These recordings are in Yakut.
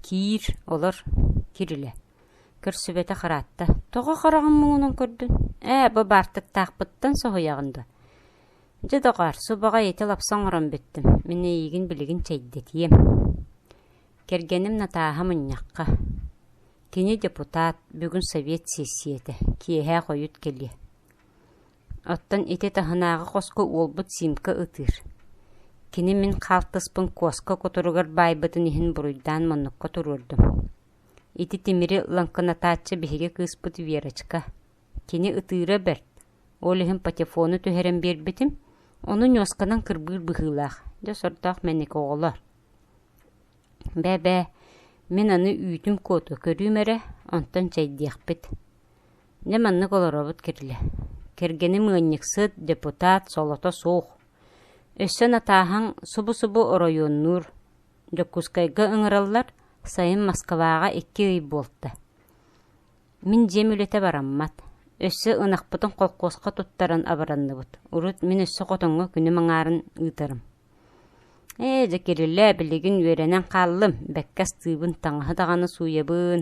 Киир, олор, кирилэ, көрсүбэтэх ыраатта: «Тоҕо хараҕын муҥунан көрдүн? Ээ, бу баартыктаахпыттан соһуйаҕын дуо? Дьэ, доҕоор, субаҕай ити лапса оҥорон бүттүм, мин эйиигин билигин чэйдэтиэм». Кэргэним Натааһа мунньахха. Кини депутат, бүгүн совет сессийэтэ, киэһэ хойут кэлиэ. Оттон ити таһынааҕы хоско уолбут Симка ытыыр. Кини мин хаалтыспын куоска кутуругар баайбытын иһин буруйдаан муннукка туруордум. Ити тимири лаҥкынатааччы биһиги кыыспыт Верочка. Кини ытыыра бэрт, ол иһин патефону түһэрэн биэрбитим, ону ньуосканан кырбыыр быһыылаах, дьэ сордоох мэник оҕолор. Бээ-бээ, мин аны үүтүм-куоту көрүүм эрэ, онтон чэйдиэхпит. Дьэ маннык олоробут кирилэ Кэргэним ыанньыксыт, депутат, солото суох. Өссө натааһаҥ субу-субу оройуоннуур. Дьокуускайга ыҥыраллар, сайын Москваҕа икки ый буолта. Мин дьиэм үлэтэ бараммат. Өссө ынахпытын холкуоска туттаран абыранныбыт. Урут мин өссө хотоҥҥо күнүм аҥаарын ыытарым. Ээ, дьэ кирилэ, билигин үөрэнэн хааллым, бэккэ астыыбын, таҥаһы даҕаны сууйабын,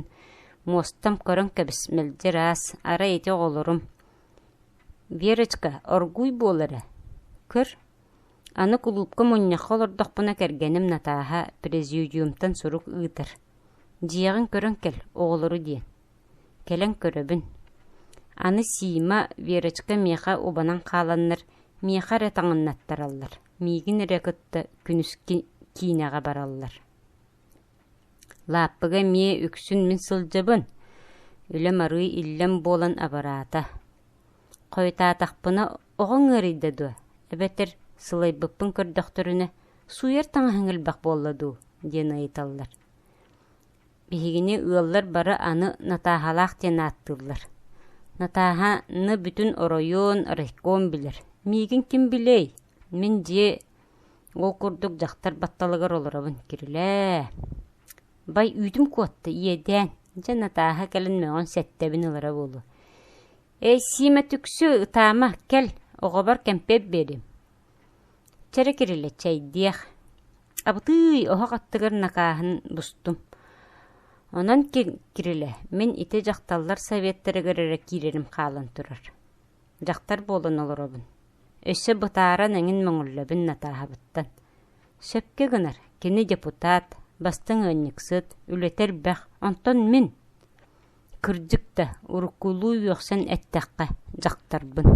муостам көрөн кэбис, мэлдьи ыраас, арай ити оҕолорум... Верочка, оргууй буол эрэ, көр, аны кулуупка мунньахха олордохпуна кэргэним Натааһа президиумтан сурук ыытар, дьиэҕин көрөн кэл, оҕолору диэн Кэлэн көрөбүн, аны Сима, Верочка миэхэ убанан хааланнар, миэхэ эрэ таҥыннаттараллар, миигин эрэ кытта күнүскү киинэҕэ бараллар Лааппыга эмиэ үксүн мин сылдьабын, үлэм арыый иллэм буолан абыраата. Хойутаатахпына, оҕоҥ ыарыйда дуо, эбэтэр сылайбыппын көрдөхтөрүнэ, сууйар таҥаһыҥ элбэх буолла дуу? диэн ыйыталлар. Биһигини ыаллар бары аны Натааһалаах диэн ааттыыллар. Натааһа ны бүтүн оройуон, райком билэр. Миигин ким билиэй? Мин дьиэ ол курдук дьахтар батталыгар олоробун. Кирилээ. Бай үүтүм куотта иэдээн. Дьэ Натааһа кэлин мөҕөн сэттэбин ылара буолуо. Эй Сиимэ түксү ытаама кэл оҕобор кэмпиэт биэриим. Чэрэ кирилэ чэйдиэх, абытыый оһох аттыгар накааһын бустум. Онон Кирилэ, мин ити дьахталлар советтарыгар эрэ киирэрим хаалан турар. Дьахтар буолан олоробун. Өссө бытааран эҥин мөҥүллэбин натааһабыттан. Сөпкө гынар, кини депутат, бастыҥ ыанньыксыт, үлэтэ элбэх, онтон мин... Кырдьык да, уруккулуу үөхсэн эттэххэ, дьахтарбын